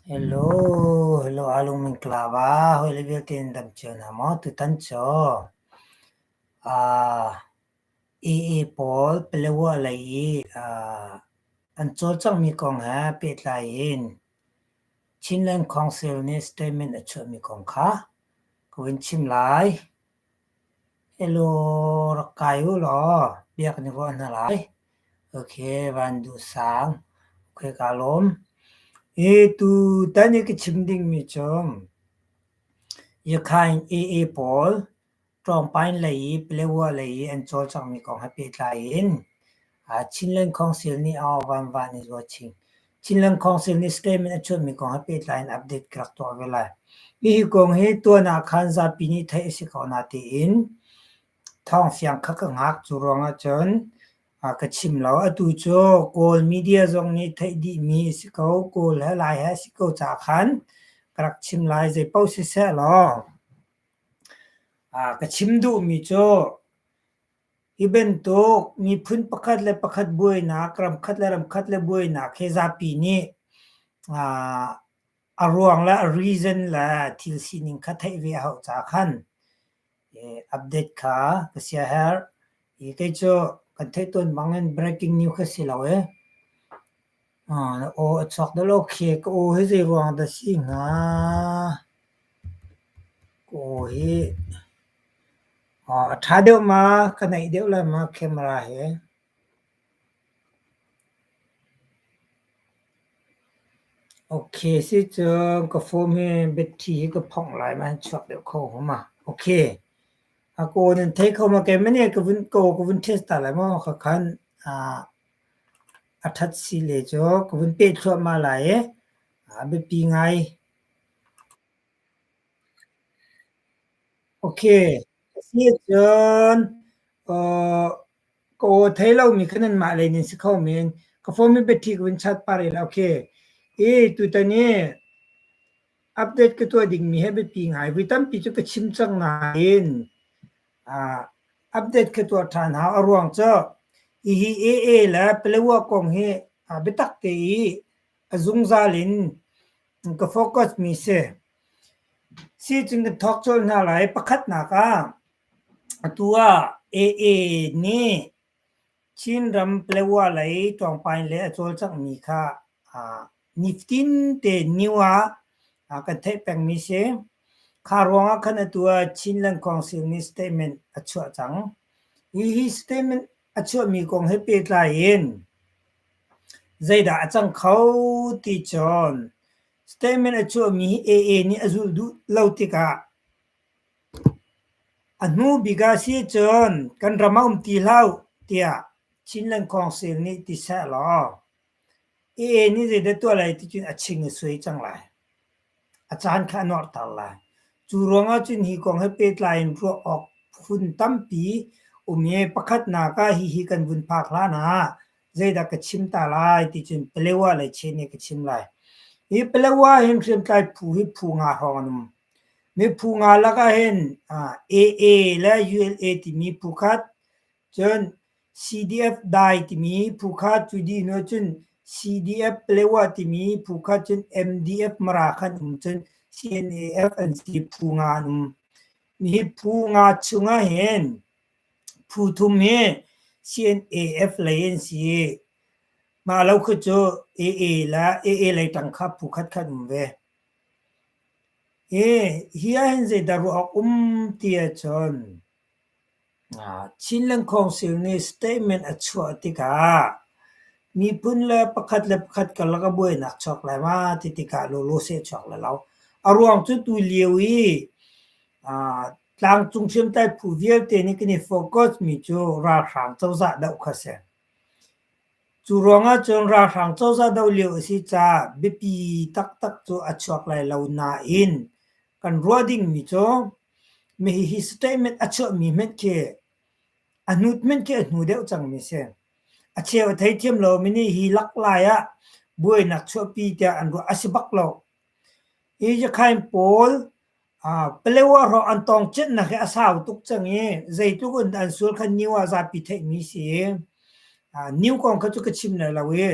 Hello, hello Alung Min Kelava. Hoi le vialte in dam cio hna maw tutan cu. Uh, AA pawl Palawa lei i uh, an cawlcangmi kong he pehtlai in Chinland Council nih statement a chuahmi kong kha ka vun chim lai. Hello, rak kai u law biak na ruah hna lai. Ok, van duh sang. Ok, kaa lawm. E tutan i ka chim dingmi cu Yakhain AA pawl ṭawngpain lei i Paletwa lei i an cawlcanghmi kong he pehtlai in Chinland Council nih Aung Vanvan i zuat chin. Chinland Council nih statement a chuahmi kong he pehtlai in update ka rak tuah ve lai. Hihi kong hi tuan ah khan zapi nih theih a si ko na tiin thawng siang kha ka ngak cu ruang ahcun ka chim lo. Atu cu Kawl media zong nih theih dihmi a si ko. Kawl he Lai he a si ko caah khan ka rak chim lai. Zei paoh siseh law ka chim duhmi cu Hi bantuk miphun pakhat le pakhat buainak, ramkhat le ramkhat le buainak hi zapi nih a ruang le a reason le thil sining kha theih ve a hauh caah khan update kha ka siah herh. Hi kei cu kan theih tawn bang in breaking news ka si lo i, Na aw a chuak deuh lo khi. Ka aw hi zeiruang dah a si hnga? Ka aw hi a ṭha deuh ma, ka naih deuh lai ma camera hi. Ok, sicun ka phone hi battery hi ka phongh lai ma, an chuak deuh kho hnga ma. Ok, a kaw nan thei kho ma kei mah nih ka vun, kaw ka vun test ta lai maw, kha khan. A ṭhat sile cu ka vun peh thluahmah lai i a biapi ngai. Ok, a si ahcun uh, ka aw thei lomi kha nanmah lei nan si kho men. Ka phone mi biaṭhi ka vun chat pah rih la. Ok, i tutan i update ka tuah dingmi he biapi ngai. Vui tampi cu ka chim cang nain uh, update ka tuah ṭhan hau. A ruang cu hihi AA le Palawa kong hi uh, biatak te i a zungzal in ka focus mi si. Si cun kan thawk colh hna lai. Pakhatnak ah atu ah AA nih Chinram Paletwa lei tlawngpain le a cawlcanghmi kha nifatin te ni ah kan theih pengmi si. Kha ruangah khan atu ah Chinland Council nih statement a chuah cang. Hihi statement a chuahmi kong he pehtlai in zeidah a cang kho ti cun statement a chuahmi hi AA nih a zulh duh lo tikah A hnu bik ah sicun kan ram a um ti hlah uh tiah Chinland Council nih ti seh law AA nih zeidah tuah lai ticun a ching a suai cang lai. A caan kha a nuarhter lai. Cu ruangah cun hi kong he pehtlai in ruah awk phun tampi um i pakhatnak ah hihi kan vun phak hlan ah zeidah ka chim ta lai ticun Palawa le Chin nih ka chim lai. Hi Palawa hin hriamtlai phu hi phu nga hrawng an um. Miphu nga lakah hin AA le ULA timi phu khat, cun CDF dai timi phu khat, cu dihnu ahcun CDF Plewa timi phu khat, cun MDF Mara khan um, cun CNAF an si phu nga an um. Hi phu nga chungah hin phu thum hi CNAF lei an si i mah lo khi cu AA le AA lei tang kha phu khatkhat um ve. Hi ahhin zeidah ruah awk um ti ahcun Chinland Council nih statement a chuah tikah miphun le pakhat le pakhat karlak a buainak chuak lai ma ti tikah lawlawseh chuak lai lo. A ruang cu tulio i tlangcung hriamtlai phu vialte nih kan i focus mi cu ralhrang cozah doh kha a si. Cu ruangah cun ralhrang cozah doh lio a si caah biapi taktak cu a chuak lai lo nain kan ruah dingmi cu hihi statement a chuahmi hmanh khi a hnut hmanh khi a hnu deuh cangmi si. A cheu a theithiam lomi nih hi lak lai ah buainak chuahpi tiah an ruah a si bak lo. Hi Yakhain pawl Paleo ah rawh an tawng cinnak hi a sau tuk cang i zeitluk in an sual kha niu ah zapi theihmi si i niu kong kha cu ka chim lai lo i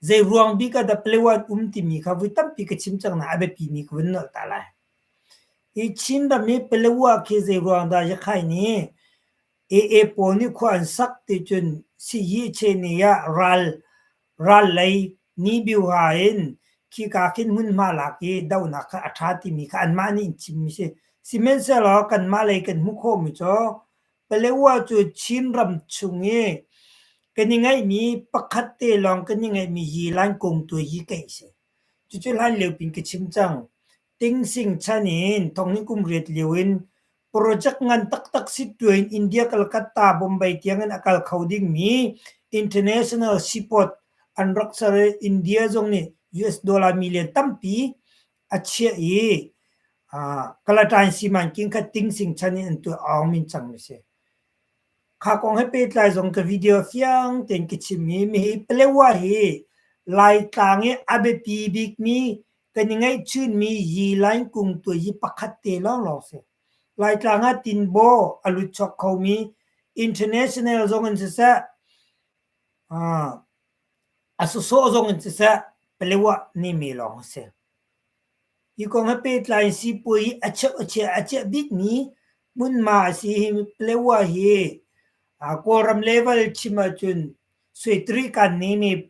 zei ruang bik ah dah paleo an um timi kha vui tampi ka chim cang nain a biapimi ka vun nolh ta lai. Hi Chin ram hi paleo ah khi zei ruang dah Yakhai nih AA pawl nih khua an sak ti cun Sihyi Chye nih ah ral Ral lei Nibiuha in khika khin hmunhma lak i dohnak kha a ṭha timi kha anmah nih an chimmi a si. Sihmanhsehlaw kanmah lei kan hmuh khawhmi cu Paletwa cu Chin ram chung i kan i ngeihmi pakhat te lawng kan i ngeihmi Yilan kung tu hi kaih a si. Cucu hlan lio pin ka chim cang. Tingsing chan in thonginn kum riat lio in project ngan taktak si tuin India Calcutta Bombay tiang in a kal kho dingmi international seaport an rak ser i India zong nih US dollar million tampi a chiah i uh, Kalatain Siman king kha Tingsing chan in an tuah aum in cang mi si. Kha kong he pehtlai zong ka video fiang ten ki chim hi mi hi Palewa hi Lai tlang i a biapi bikmi kan i ngeihchunmi yi lainkung tuayi pakhat te lawnglawng si. Laitlang ah tinbaw a lut chok khomi international zong in siseh, a sawsawh zong in siseh, Palewa nimi lawng a si. Hi kong he pehtlai sipuai a cheuh a chiah a chiah bikmi hmunma a si hi Palewa hi Kawlram level chim ahcun Suetri kan nimi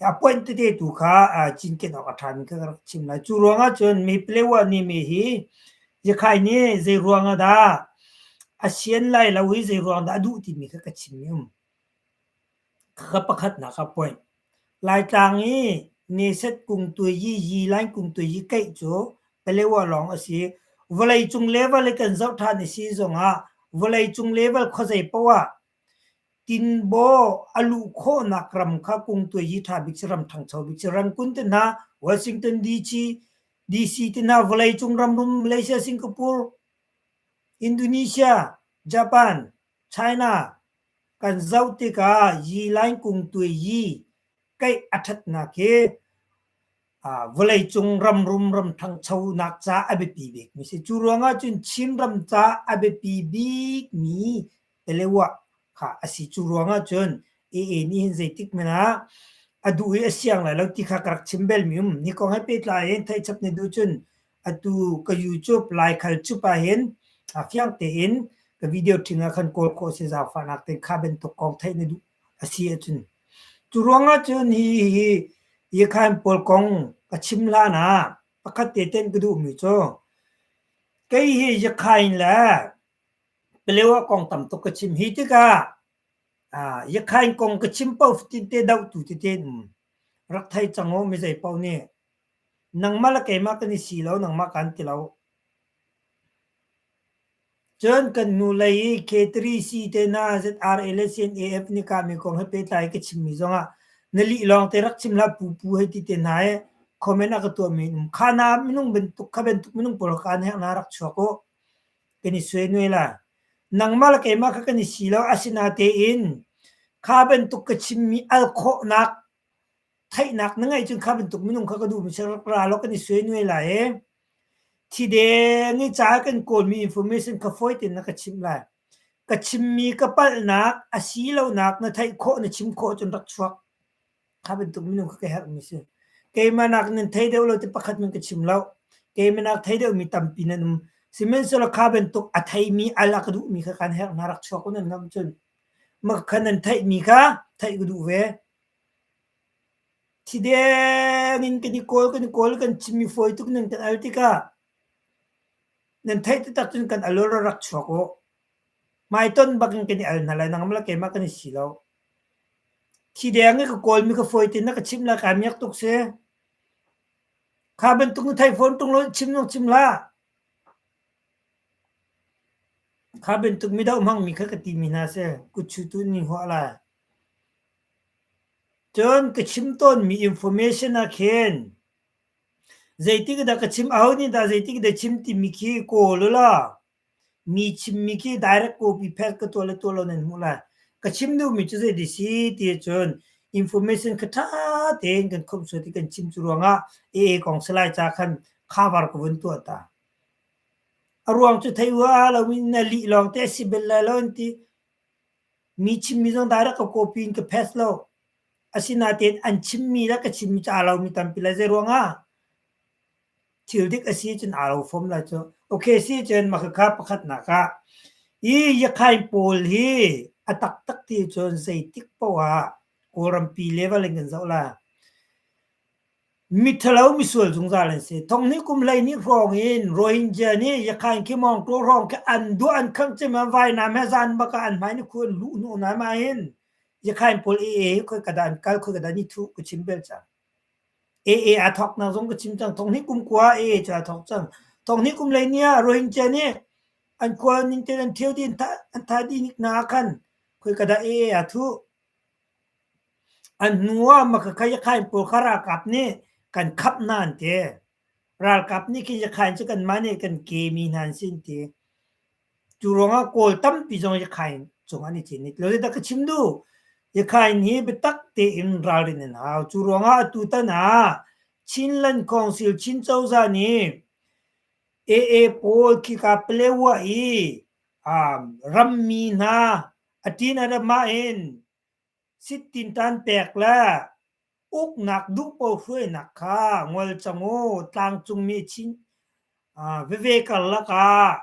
a point tete tu kha cinken awk a ṭhami kha ka rak chim lai. Cu ruangah cun mi Palewa nih mi hi Yakhai nih zei ruangah dah a sian lai lo i zei ruang dah a duh timi kha ka chim i um. Kha pakhatnak a point. Laitlang i Neset kung tuai yi yi Lain kung tuai yi keih cu Palewa lawng a si. Vawlei cung level i kan zoh ṭhan i si zongah vawlei cung level khuazei paoh ah Tinbaw a luh khawhnak ram kha kungtuai hi ṭha bik si ram ṭhangcho bik si rangkun te hna Washington DC DC te hna vawleicung ramrum Malaysia Singapore Indonesia Japan China kan zoh tikah yi line kungtuai yi keih a ṭhatnak hi vawleicung ramrum ramṭhangchonak ca a biapi bikmi si. Cu ruangah cun Chinram ca a biapi bikmi Telewa kha a si. Cu ruangah cun AA nih hin zeitik men ah a duh i a siang lai lo ti kha ka rak chim belmi um. Ni kong he pehtlai in theihchap na duh cun atu ka YouTube lai khal cup ah hin fiang tein ka video ṭhing ah khan kawl khawh si zaangfahnak ten kha bantuk kong theih na duh a si ahcun cu ruang ahcun hi hi Yikhain pawl kong ka chim hlan ah pakhat te tein ka duhmi cu kei hi Yikhain le Palewa kong tam tuk ka chim hi tikah Yikhain kong ka chim paoh tinte dohtu tete in um rak thei cang u mi zei paoh nih nangmah le keimah kan i si lo nangmah kan ti lo. Cun kan nu lei i K3 si te na ZRA le CNAF nih kah mi kong he pehtlai ka chimmi zongah na lih lawng te rak chim hlah pupu hei ti te hna i comment a ka tuahmi in um. Kha na minung bantuk kha bantuk minung pawl kha na na rak chuak u kan i sue nuai la. Nangmah le keimah kha kan i si lo asinatein kha bantuk ka chimmi al khawhnak Theihnak na ngeih cun kha bantuk minung kha ka duhmi si ra law kan i suainuai lai i thi deng i ca kan kawlmi information kha fawi tein na ka chimh lai. Ka chimmi ka palhnak asilonak na theih khawh na chim khawh cun rak chuak. Kha bantuk minung kha ka herhmi si. Keimah nak nan thei deuh lo ti pakhat nan ka chim lo. Keimah nak thei deuhmi tampi nan um. Sihmanhsehlaw kha bantuk a theimi al a ka duhmi kha kan herh hna rak chuak u nan ngamh cun. Makhan an theihmi kha theih ka duh ve. Thi deng in kan i kawl, kan i kawl, kan chimmi fawi tuk nan kan al tikah nan theih taktak cun kan al u ra rak chuak u. Hmaiton bakin kan i al hna lai nangmah le keimah kan i si lo. Thi deng i ka kawlmi kha fawi tein na ka chimh lai kaa miak tuk si. Kha bantuk na theih fawn ṭung lo chim lo chim hlah. Kha bantuk midauh hmangmi kha ka timi hna seh, kutchutu nih an huah lai. Cun ka chim tawnmi information ah khin zeitik dah ka chim, aho nih dah zeitik dah chim timi khi kawl ula, mi chimmi khi direct copy pek ka tuah le tuah lo nan hmuh lai. Ka chim duhmi cu zei ti si ti ahcun information kha ṭha tein kan khomh sual ti kan chim cu ruangah AA kong salai ca khan khavar ka vun tuah ta. A ruang cu thei hua loin na lih lawngte a si bel lai lo an ti. Mi chimmi zong direct ka copy in ka paste lo. Asinain an chimmi le ka chimmi cu aa lomi tampi lai. Zeiruangah? Thil dik a si cun aa lo fom lai cu. Okay si cun makhakha pakhatnak ah i Yakhain pawl hi a taktak ti cun zeitik paoh ah Kawlrampi level in kan zoh lai. Miṭhalo misual zungzal an si. Thong hnih kum hleihnih hrawng in Rohingya nih Yakhain Khimawngtaw hrawng khi an duah an khangh cem i vainam he zan bak ah an hmai ni khu an luh hnawh hna ma hin Yakhain pawl AA hi khoi ka dah an kal khoi ka dah ni thuh ka chim bel cang. AA a thawk na zong ka chim cang. Thong hnih kum kua AA cu a thawk cang. Thong hnih kum hleihnih ah Rohingya nih an kua ning te an ṭhio ti an tha dih nik na khan khoi ka dah AA a thuh. A hnuah Makhakhayakhain pawl kha ralkap nih kan khamh hna an ti. Ralkap nih Khiyakhain cu kanmah nih kan kemi hna an si an ti. Cu ruangah Kawl tampi zong Yakhain cung an i chinit. Lo dah ka chim duh? Yakhain hi biatak tein ralrin an hau. Cu ruangah atutan ah Chinland Council Chin cozah nih AA pawl khika Paletwa i um rammi hna A tin a ram ahhin sit-tin taan pek le uknak duhpaoh hruainak kha ngol cang u. Tlangcungmi Chin veve karlak ah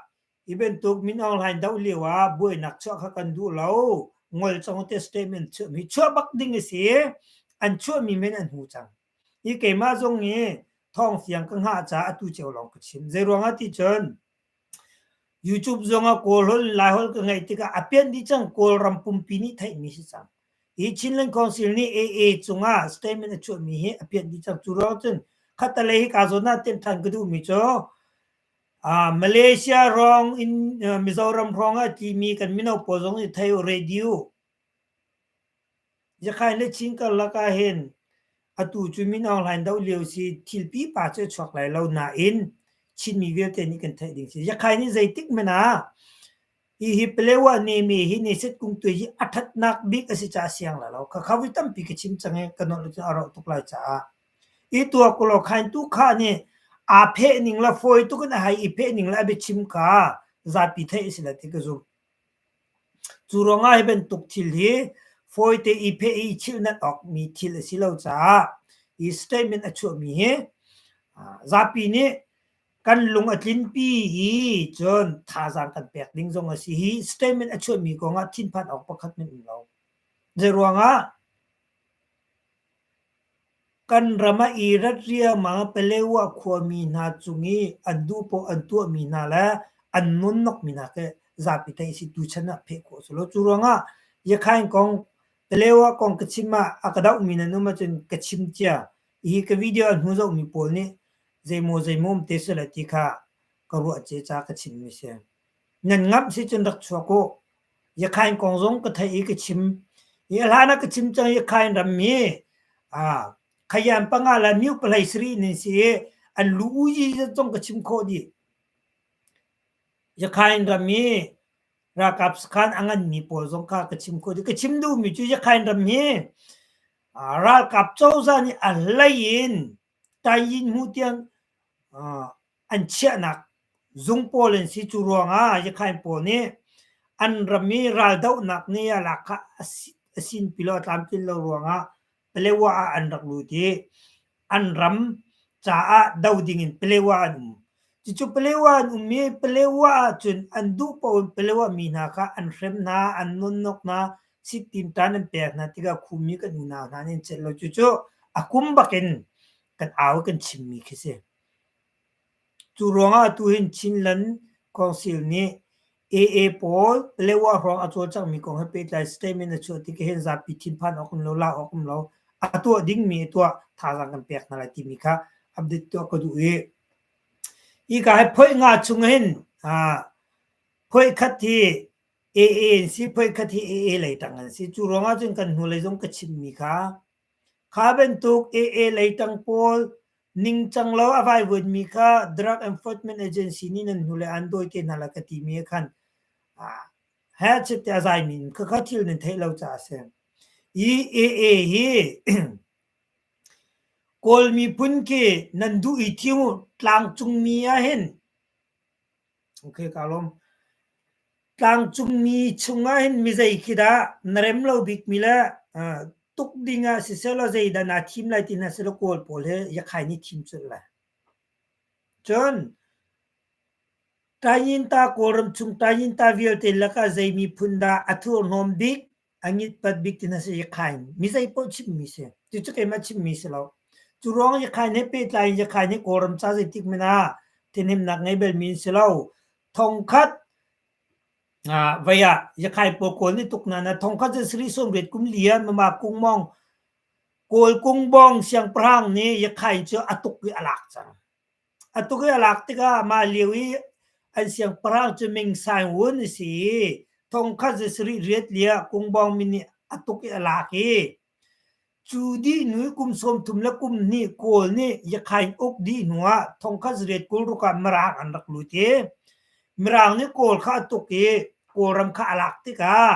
hi bantuk min online doh lio ah buainak chuah kha kan duh lo. Ngol cang u ti statement chuahmi. Chuah bak ding a si. An chuahmi men an hmu cang. Hi keimah zong hi thawng fiang ka hngah caah atu cio lawng ka chim. Zeiruangah ti cun YouTube zongah Kawlholh Laiholh ka ngeih tikah a pianh dih cang Kawlram pumpi nih theihmi si cang. Hi Chinland Council nih AA cungah statement a chuahmi hi a pianh dih cang. Cu ruang cun khatalei hi kaa zawn ah tenh than ka duhmi cu uh, Malaysia ruang in uh, Mizoram ruang ah timi kan mino pawl zong i thei u radio Yakai le Chin karlak ahhin atu cu Min Aung Hlaing doh lio si thil pipa cu a chuak lai lo nain Chinmi vialte nih kan theih ding si. Yakai nih zeitik men ah hi hi Palewa neme hi Neset Kungtue hi a thatnak bik a si caah siang la lo. Khakha voi tampi ka chim cang i ka nawl nih cun a rauh tuk lai caah. I tuakulaw Khaintu Kha nih aa pheh ning le fawi tuk in a hei i pheh ning le a biachim kha zapi theih a si lai ti ka zumh. Cu ruangah hi bantuk thil hi fawite i pheh i chilhnat awkmi thil a si lo caah hi statement a chuahmi hi zapi nih kan lung a tlinpi i cun thazaang kan pek ding zong a si hi statement a chuahmi kong ah thinphan awk pakhat nan um lo. Zei ruangah? Kan ram ah i rat riangmang ah Paletwa khuami hna cung i an duhpoah an tuahmi hna le an nunnokmi hna khi zapi theih a si tu chan ah pheh khawh a si lo. Cu ruangah Yakhain kong Paletwa kong ka chim ah a ka dohmi nan um ahcun ka chim cia. Hi ka video a hnu zohmi pawl nih zeimaw zeimaw um te sihlah ti kha ka ruah cia ca ka chimmi a si. Nan ngamh si cun rak chuak u. Yakhain kong zong ka theih i ka chim. Hi a hlan ah ka chim cang Yakhain rammi ah Khayan panga le Myu palei sarih in an si i an lu uji zong ka chim khawh dih. Yakhain rammi ralkap sakhan a nganmi pawl zong kha ka chim khawh dih. Ka chim duhmi cu Yakhain rammi ah ralkap cozah nih a hlei in Tayin hmuh tiang ah an chiahnak zung pawl an si cu ruangah Yakhain pawl nih an ram i raldohnak ni ah lakha a sin pilo a tlamtlin lo ruangah Palewa ah an rak lut i an ram caah do ding in Palewa an um cucu Palewa an um i Palewa ahcun an duh paoh in Palewa mi hna kha an hrem hna an nonnok hna siktim tan an pek hna tikah khumi kan unau hna an in celh lo cucu a kum bakin kan au kan chimmi khi si. Cu ruangah atu hin Chinland Council nih AA pawl Paletwa hrawng a cawl cangmi kong he pehtlai statement a chuah tik hin zapi thinphan awk um lo, la awk um lo, a tuah dingmi a tuah thazaang kan pek hna lai timi kha update tuah ka duh i hika hi phoih nga chung hin ah phoih khat hi AA an si, phoih khat hi AA lei tang an si. Cu ruangah cun kan hnulei zong ka chimmi kha Kha bantuk AA leitang pawl ningcang lo a vaivuanmi kha Drug Enforcement Agency nih nan hnule aan dawi te hna lai ka timi ah khan headset te a zaimi in khakha thil nan theih lo caah a si. I AA hi Kawl miphun khi nan duh i thing u tlangcungmi ah hin Tlangcungmi chungah hin mizei khi dah na rem lo bikmi le tuk ding ah sisehlaw zeidah naa thim lai ti hna sehlaw Kawl pawl he Yakhay nih thim colh lai. Cun Taiyinta Kawlram chung Taiyinta vialte lakah zei miphun dah a thurhnawm bik a ngit pat bik ti na si i khai mizei poh chimmi si cucu keimah chimmi si lo cu ruang i khai ne pehtlai in i khai ne kawram ca zeitik mena tinemnak ngei bel mi si lo thong khat vaya yakhai po kawl ni tuk na na thong khat je sri son ret kum lian mama kung mong kawl kung bong siang prang ni yakhai chu atuk i alak cang A tuk i a lak tikah mah lio i an siangpahrang cu Ming Saing Wun a si i thongkhat za sarih riat liah Kungbawng min nih a tuk i a lak i cu dih hnu i kum sawm thum le kum hnih Kawl nih Yakhain uk dih hnu ah thongkhat zariat kul ruk ah Mirang an rak lut i Mirang nih Kawl kha a tuk i Kawlram kha a lak tikah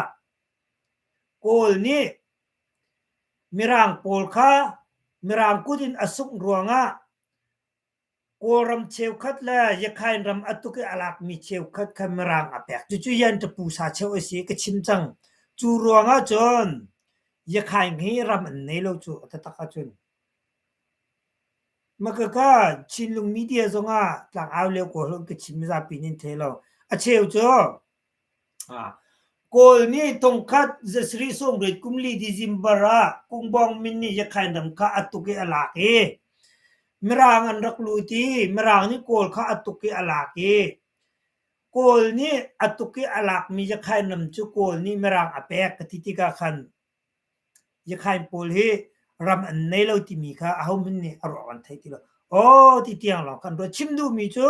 Kawl nih Mirang pawl kha Mirang kut in a sungh ruangah Kawlram cheukhat le Yakhain ram a tuk i a lakmi cheukhat kha Mirang a pek. Cucu Yanṭapusa cheu a si ka chim cang. Cu ruangah cun Yakhain hi ram an nei lo cu a taktak ahcun. Makaka Chinlung media zongah tlangau lio kaw hlawt ka chim zapi nin thei lo. A cheu cu Kawl nih thongkhat zasarih sawmriat kum li December ah Kungbuang min nih Yakhain ram kha a tuk i a lak i Mirang an rak lut i Mirang nih Kawl kha a tuk i a lak i Kawl nih a tuk i a lakmi Yakhain ram cu Kawl nih Mirang a pek ka ti tikah khan Yakhain pawl hi ram an nei lo timi kha ahohmanh nih a ruang an theih ti lo. Aw ti tiang lawng kan ruat. Chim duhmi cu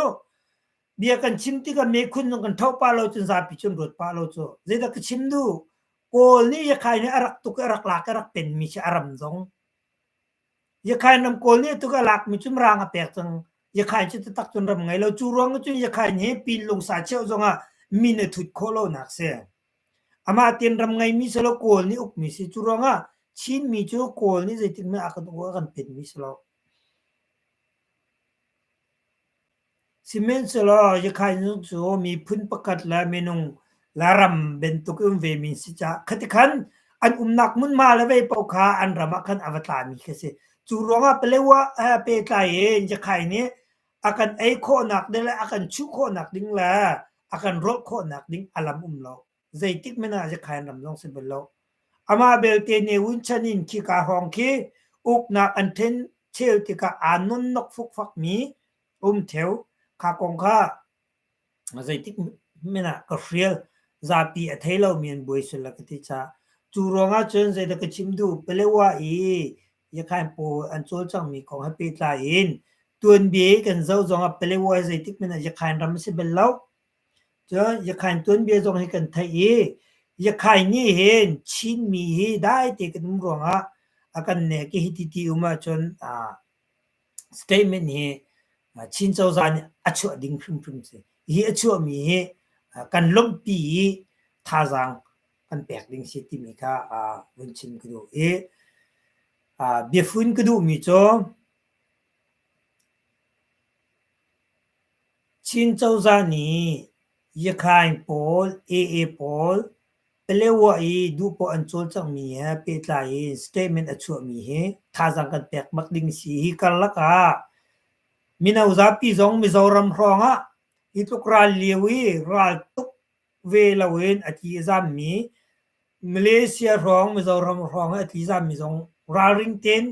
bia kan chim tikah mekhun zong kan thoh pah lo cu zapi cu an ruat pah lo cu. Zeidah ka chim duh? Kawl nih Yakhain hi a rak tuk i a rak lak i a rak penmi khi a ram zong. Yakhain ram Kawl nih a tuk i a lakmi cu Mrang a pek cang. Yakhain cu taktak cun ram ngei lo. Cu ruang ahcun Yakhain hi Pinlung sa cheuh zongah min a thut khawh lonak a si. Amah tinram ngeimi si lo Kawl nih ukmi si cu ruangah Chinmi cu Kawl nih zeitikmah a kan penmi si lo. Sihmanhsehlaw Yakhainu cu miphun pakhat le minung le ram bantuk in vemi si caah khati khan an umnak hmunhma le vei paoh kha an ram ah khan a va tlami khi a si. Cu ruangah Palewa pehtlai in Yakhai nih a kan ei khawhnak ding le a kan chuh khawhnak ding le a kan rawlh khawhnak ding a lam um lo. Zeitik men ah Zekhain ram zong si bal lo. Amah belte ne un chan in khi ka hong khi uknak an then chel tikah aa nonnok fukfak mi um theo. Kha kong kha Zeitik men ah ka hrial, zapi a thei lomi an buai sul a ka ti cah. Cu ruangah cun zeidah ka chim duh, Palawa i Yakhain pawl an cawlcangmi kong he pehtlai in tuanbia i kan zoh zongah Palawa zeitik men ah Yakhain ram a si bal lo. Cun Yakhain tuanbia zong hi kan theih i Yakhain nih hin Chinmi hi daite kan um ruangah a kan nek i hiti ti um ahcun a statement hi Chin cozah nih a chuah ding hrimhrim si. Hi a chuahmi hi kan lawmhpi i thazaang kan pek ding si timi kha vun chim ka duh i biafun ka duhmi cu Chin cozah nih Yakhain pawl, AA pawl Pelewa i duhpoah an cawl cangmi he pehtlai in statement a chuahmi hi thazaang kan pek bak ding si. Hi karlak ah mino zapi zong Mizoram hrawngah hi tluk ral lio i ral tuk ve loin a tli a zammi Malaysia hrawng Mizoram hrawng i a tli zammi zong ralring tein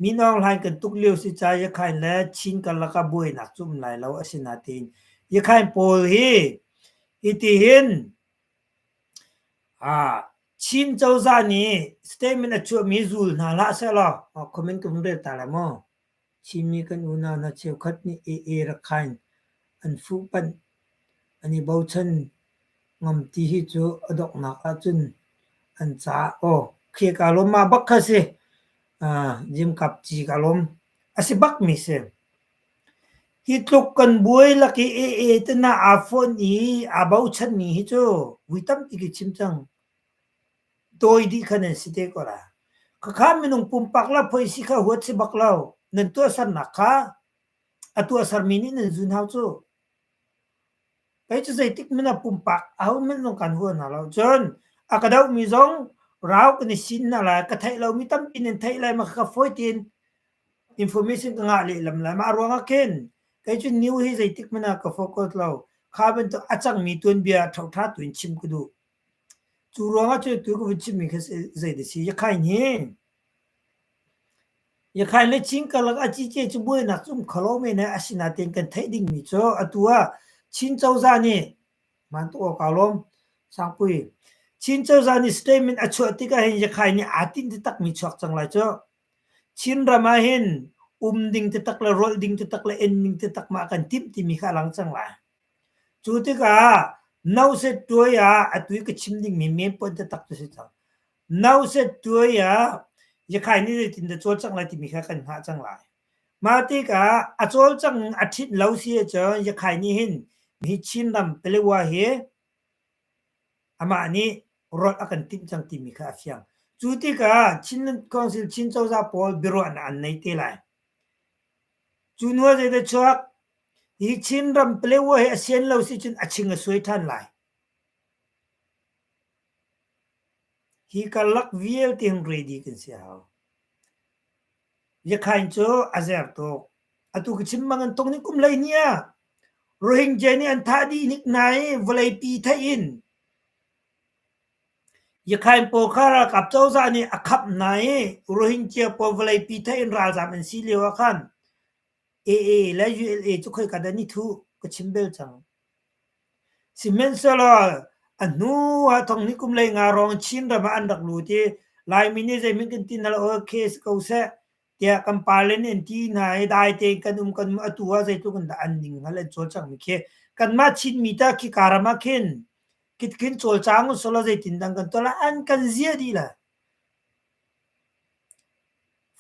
Minawng hlain kan tuk lio si ca Iakhain le Chin karlak ah buainak cu um lai lo a si nain Iakhain pawl hi hitihin Chin cozah nih statement a chuahmi zul hna hlah sehlaw comment ka vung rel ta lai maw? Chinmi kan unau hna cheukhat nih ee rakhain an fuhpanh an i bochan ngam ti hi cu a donghnak ahcun an caah aw khia kaa lawm ma bak kha a si. Jimkap ci kaa lawm a si bakmi si. Hi tluk kan buai lak i ee te na aa fawnh i aa bochanmi hi cu vui tampi ka chim cang. dawi dih kha nan si te ko la. Khakha minung pumpak lo phoih si kha huat si bak lo. Nan tuahsernak kha a tuahsermi nih nan zun hau cu. Kei cu zeitik mina pumpak ahohmanh zong kan hua hna lo. Cun a ka dohmi zong rau kan i sin hna lai. Ka theih lomi tampi nan theih lai. Ma ka fawi tin information ka ngah lehlam lai. Mah ruangah khin kei cu new hi zeitik mina ka focus lo. Kha bantuk a cangmi tuanbia ṭhoṭha tuin chim ka duh. Cu ruangah cu tu ka vun chimmi kha zei da si? Yakhain hi Yakhain le Chin karlak a cice cu buainak cu um kho lo men i asinain kan theih dingmi cu atu ah Chin cozah nih hmaan tuk awk aa lawm Sangpui. Chin cozah nih statement a chuah tikah hin Yakhain nih aa tinh taktakmi chuak cang lai cu. Chin ram ah hin um ding taktak le rolh ding taktak le en ning taktak mah kan timh timi kha a lang cang lai. Cu tikah no set tuai ah a tui ka chim dingmi men point taktak cu a si cang. No set tuai ah Yakhai nih zeitin dah cawl cang lai timi kha kan hngah cang lai. Mah tikah a cawlcang a ṭhit lo si ahcun Yakhai nih hin hi Chinram Palawa hi amah nih rawlh a kan timh cang timi kha a fiang. Cu tikah Chin Council Chin cozah pawl biaruahnak an nei te lai. Cu hnu ah zeidah chuak? Hi Chin ram Palaewa hi a sian lo sicun a ching a suai ṭhan lai. Hi karlak vialte hin ready kan si a hau. Liakhain cu a zer tuk. Atu ka chim bang an tung ning kum hlei hnih ah Rohingya nih an thah dih nik na i vawleipi theih in Yakhain pawl kha ralkap cozah nih a khap hna i Rohingya pawl vawleipi theih in ralzam an si lio ah khan AA le ULA cu khoi ka dan i thu ka chim bel cang. Sihmanhsehlaw a hnu ah thong ni kum lei nga rong Chin ram ah an rak lut i Laimi nih zeimin kan ti na lo case ko seh tiah kan palen in ti hna i dai tein kan um kan um atu ah zeitluk in dah an ning hal an cawl cang mi khi kanmah Chin mi ta khi ka ram ah khin kitkin cawlcang usulaw zeitin dang kan tuah la an kan zia dih la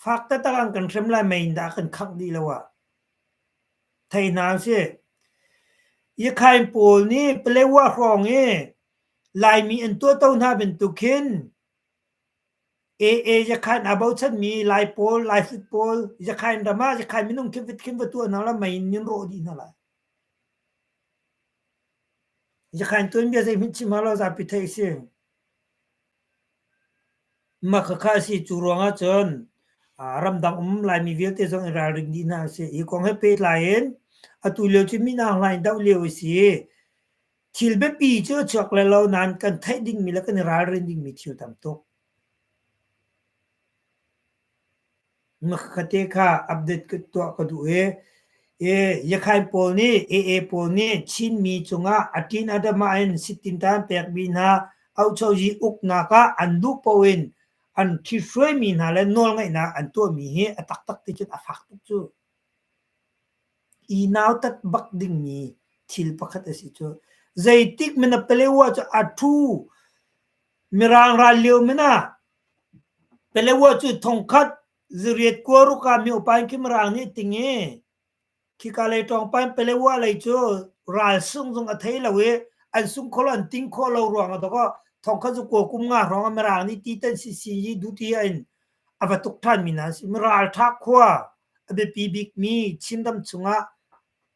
Fak taktak an kan hrem lai mei in dah a kan khangh dih lo ah thei hna usih. Iakhain pawl nih Paletwa hrawng i Laimi an tuahto hna bantuk khin AA Iakhain aa bochanmi Lai pawl, Laihrit pawl Iakhain ram ah Iakhain minung khinfit khin va tuah hna la mei in an rawh dih hna lai. Yakhain tuanbia zeihmanh chim hau lo zapi theih a si. Makhakha a si. Cu ruangah cun ramdang um Laimi vialte zong i ralring dih hna a si. Hi kong he pehtlai in atu lio cu Minang hlai in doh lio a si. Thil biapi cu a chuak le lo nain kan theih dingmi le kan i ralrin dingmi thil tam tuk. Ngakkhate kha update ka tuah ka duh i Yakhain pawl nih AA pawl nih Chinmi cungah Atin Adamah in sittintan pekmi hna auchozi uknak ah an duh paoh in an thi hruaimi hna le nawlngaihnak an tuahmi hi a taktak ticun a fak tuk cu. I nautat bak dingmi thil pakhat a si cu. Zeitik men a pelewa cu a thu Mirang ral lio men ah Palawa cu thongkhat ziriat kua ruka miopain khim raang nih ting i khika lei ṭawngpain Palawa lei cu ral sung zung a thei lo i an sung kho lo an ting khawh lo ruang a dok ah thongkhat cu kua kum nga hrawng ah Mirang nih ti tan si si i duti ah in a va tuk ṭhan mi hna an si. Miralṭha khua a biapi bikmi Chin ram chungah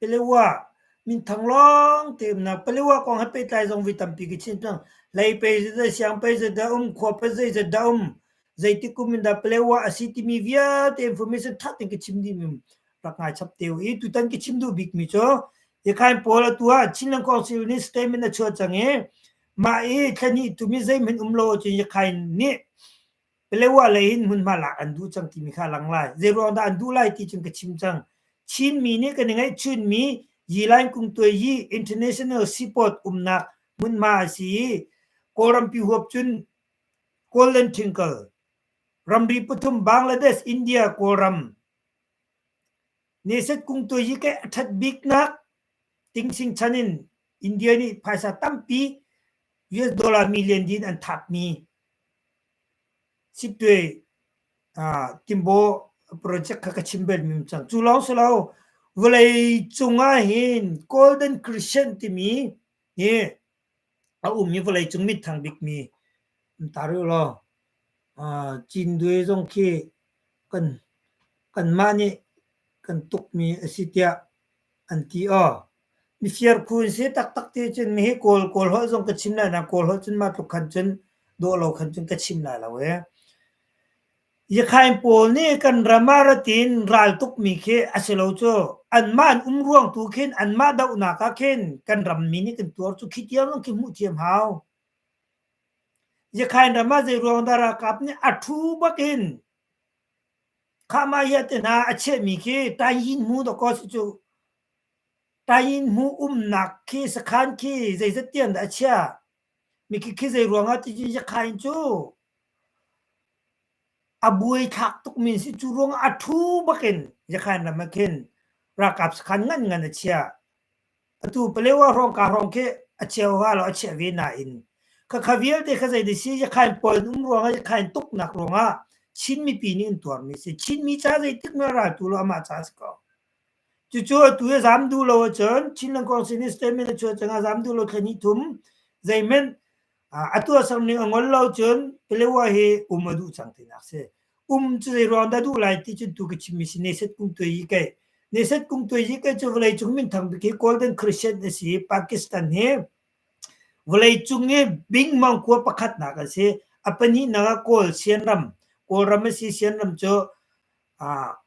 Paleo-a minthang lawngte umnak Paleo-a kong he pehtlai zong vi tampi ka chim cang. Hlei pei zeidah siang pei zeidah a um, khua pei zeidah a um, zeitik kum in dah Paleo-a a si timi vialte information ṭha tein ka chim dihmi rak ngai chap te u. I tutan ka chim duh bikmi cu Yakain pawl atu ah Chinland Council nih statement a chuah cang i mah i thla hnih tum hi zeihmanh um lo ahcun Yakain nih Palewa lei in hmunhma lak an duh cang timi kha a lang lai. Zeiruang dah an duh lai ti cun ka chim cang. Chinmi nih kan i ngeihchunmi Yilain Kungtuai Yi International Seaport umnak hmunhma a si i Kawlrampi huap cun Golden Triangle, ramri pathum Bangladesh, India, Kawlram, Neset kung tu hi ke a ṭhat bik nak tingsing chan in India nih phaisa tampi US dollar million din an thap mi siptuai timbo project kha ka chim bel mi cang cu lawng si lo vawlei cung ah hin golden crescent timi hi A ummi vawleicung minthang bikmi um ta rih ulaw uh, Cindwe zong khi kan kanmah nih kan tukmi a si tiah an ti o mifir khun si taktak ti cun mi hi kawl kawl ho zong ka chim lai na kawl ho cun mah tluk khan cun dawh lo khan cun ka chim lai lo ee Iakhain pawl nih kan ram ah ratin ral tukmi khi a si lo cu. Anmah an um ruang tu khin anmah dohnak ah khin kan rammi nih kan tuar cu khi tiang zong khi hmuh thiam hau. Iakhain ram ah zeiruang dah ralkap nih a thu bak in khahmah hiah te hna a chehmi khi Tayin hmu dawh kaw si cu. Tayin hmu umnak khi sakhan khi zeizat tiang dah a chia? Mikik hi zeiruangah cucu Sakha in cu a buaithlak tukmi si cu ruangah a ṭhu bakin Sakhan ram ah khin ralkap sakhan ngan a chia. Atu Paleo ah hrawngka hrawng khi a cheu ha lo a chiah ve nain khakha vialte kha zei ti si Sakhan puai an um ruangah Sakhan tuknak ruangah Chin mipi nih an tuarmi a si. Chinmi ca zeitik in dah raltu lo amah ca a si ko. Cucu atu i zam duh lo ahcun Chin Langkuang Civil Statement a chuah cangah zam duh lo thlen hi thum. Zeihmanh atu a sang ning a ngol lo cun Paletwa hi um a duh cang tinak si. Um cu zei ruang dah duh lai ti cun tu ka chimmi si Neset Kung Tuai Yi Kai. Neset Kung Tuai Yi Kai cu vawlei cung minthang bik hi Golden Christian a si. Pakistan hi vawlei cung i bing mangkua pakhatnak an si. A pahnihnak ah Kawl Sian ram. Kawlram a si Sian ram cu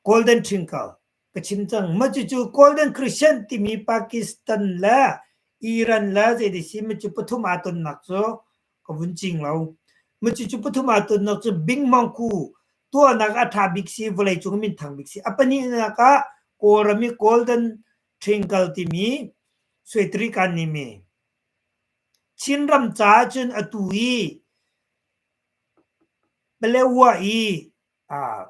Golden Triangle ka chim cang. Mah cucu Golden Christian timi Pakistan le Iran le zeiti si mah cu pathum aa tonnak cu ka vun cing lo. Mah cucu pathum aa tonnak cu Bing Mangku tuahnak a ṭha bik si, vawleicung minthang bik si. A pahnihnak ah Kawlram i Golden Triangle timi Suetrikan nimi. Chinram caah cun atu i Paletwa i aa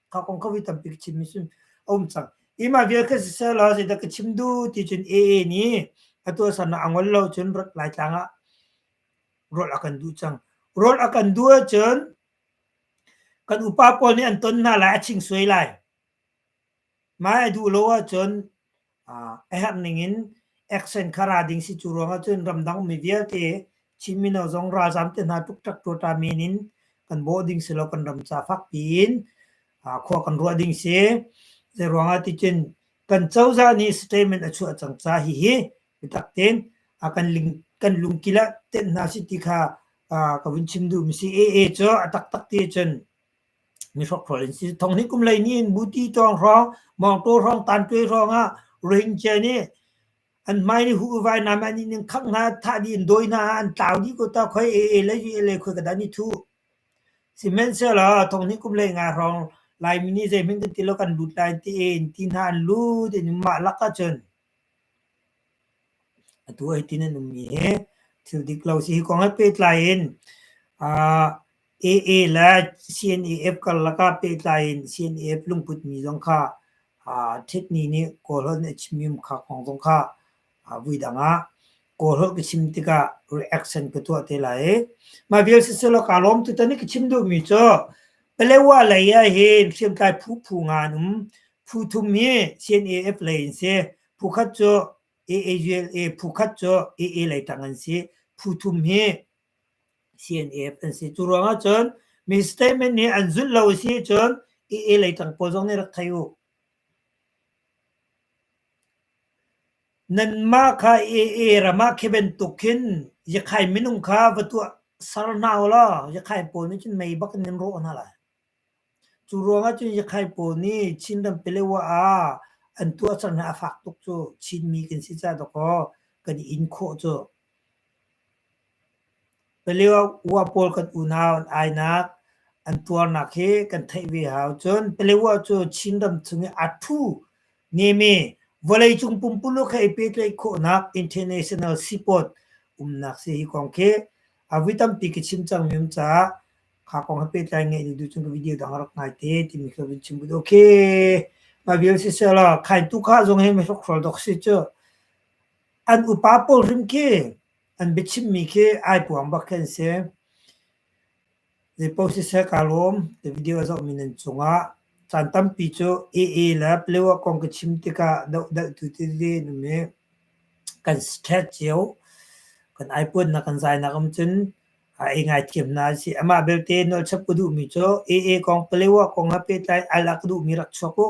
thao kong khawi tampi ka chim mi sun aum cang ima vial ka si sel la da ka chim du ti cun AA ni atu san angol lo cun rot lai tlang ah rol akan du cang rol akan du cun kan upa pawl nih an ton hna lai a ching suai lai mai a duh lo ah cun a herh ningin action kha ra ding si cu ruangah cun ramdang mi vialte Chin mino zong ralzam te hna tuk tak tuata min in kan bo ding si lo kan ram ca fak tiin khua kan ruah ding si zei ruangah ti cun kan cozah nih statement a chuah cang ca hi hi bitak ten a kan ling kan lungkila ten hna si ti kha ka vun chim duh mi si ee cu a tak tak ti cun ni hrokhrol in si thong hin kum lei ni in buti tawng hrawng mawngtaw hrawng tantuai hrawng ah rohingya nih an mai ni hu vai nam an in in khak hna thah di in dawi hna an tlau di ko ta khoi e e le e le khoi kada ni thu sihmanhsehlaw thong hin kum lei nga hrawng lai mini zei hming kan ti lo kan lut lai ti in ti hna an lut in mah lak ah cun Atu ai tin an um mi hi thil dik lo si hi kong he pehtlai in aa AA le CNAF karlak ah pehtlai in CNAF lungput mi zong kha aa ṭhit ni nih kawl holh in a chim mi um kha kong zong kha aa vui dang ah. Kawlholh ka chim tikah reaction ka tuah te lai i mah vial siselaw kaa lawm tutan i ka chim duhmi cu Palewa lei ah hin hriamtlai phu phu nga an um phu thum hi CNAF lei an si phu khat cu AAZLA phu khat cu AA lei tang an si phu thum hi CNAF an si cu ruang ah cun mi statement nih an zulh lo a si cun AA lei tang pawl zong nih rak thei u Nanmah kha AA ram ah khi bantuk khin Yakhai minung kha va tuah ser hna u law Yakhai pawl nih cun mei bak in nan rawh hna lai. Cu ruangah cun Yakhai pawl nih Chin ram Pelewa ah an tuahser hna a fak tuk cu Chinmi kan si caah dawkaw kan i in khawh cu. Paleo ua pawl kan unau an ainak an tuarnak hi kan theih ve hau. Cun paleo cu Chinram chung i a ṭhu ngemi vawleicung pumpuluk he i pehtlaih khawhnak international seaport umnak si hi kong khi a vui tampi ka chim cang men caah kha kong he pehtlai ngeih ning tu cun ka video dang rak ngai te timi khi vun chim bu dawh khi. Mah vial sisel law khai tu kha zong hi mihrokhrol dawk si cu an upa pawl hrim khi An biachimmi khi ai puang bak khi an si. Zeipaoh siseh kaa lawm. Ti video a zohmi nan cungah. Caan tampi cu AA le Palaewa kong ka chim tikah dohdalhtu tete nan i kan ṭhet cio. Kan aipuannak kan zainak um cun ei ngaithiam hna a si. Amah belte nawlchap ka duhmi cu AA kong, Palaewa kong he pehtlai in ailah ka duhmi rak chuak u.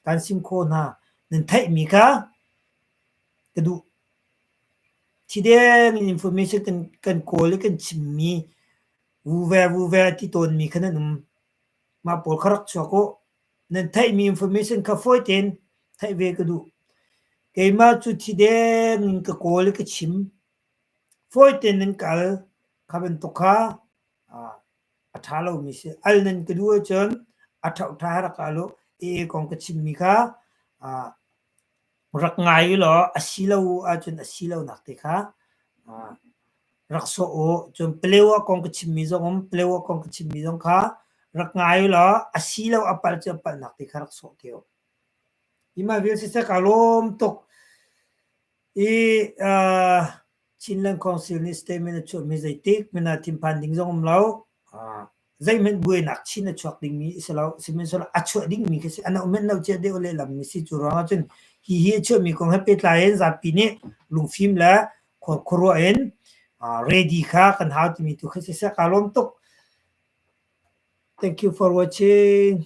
Kan sim khawh hna. Nan theihmi kha ka duh. Thi deng in information kan, kan kawl i kan chimmi vuve vuve ti tawnmi khan an um. Mah pawl kha rak chuak u. Nan theihmi information kha fawi tein theih ve ka duh. Keimah cu thi deng in ka kawl i ka chim. Fawi tein nan kal. Kha bantuk kha ah, a ṭha lomi si. Al nan ka duh ahcun a ṭhauh ṭha rak al u. Ee kong ka chimmi kha ah, rak ngai u law a si lo ahcun a si lonak te kha rak sawh u. Cun Paleo ah kong ka chimmi zong um Paleo ah kong ka chimmi zong kha rak ngai u law a si lo a palh cu a palhnak te kha rak sawh te u. Hi ma vial siseh kaa lawm tuk i uh, Chinland Council nih statement a chuahmi zeitik hmanh ah thinphan ding zong um lo. zeihmanh buainak chin a chuak dingmi si lo sihmanhsehlaw a chuah dingmi khi si a nauhmanh no cia deuh lehlammi si cu ruangah cun hi hi a chuahmi kong he pehtlai in zapi nih lungfim le khuaruah in ready kha kan hau timi tu khi si seh kaa lawm tuk. Thank you for watching.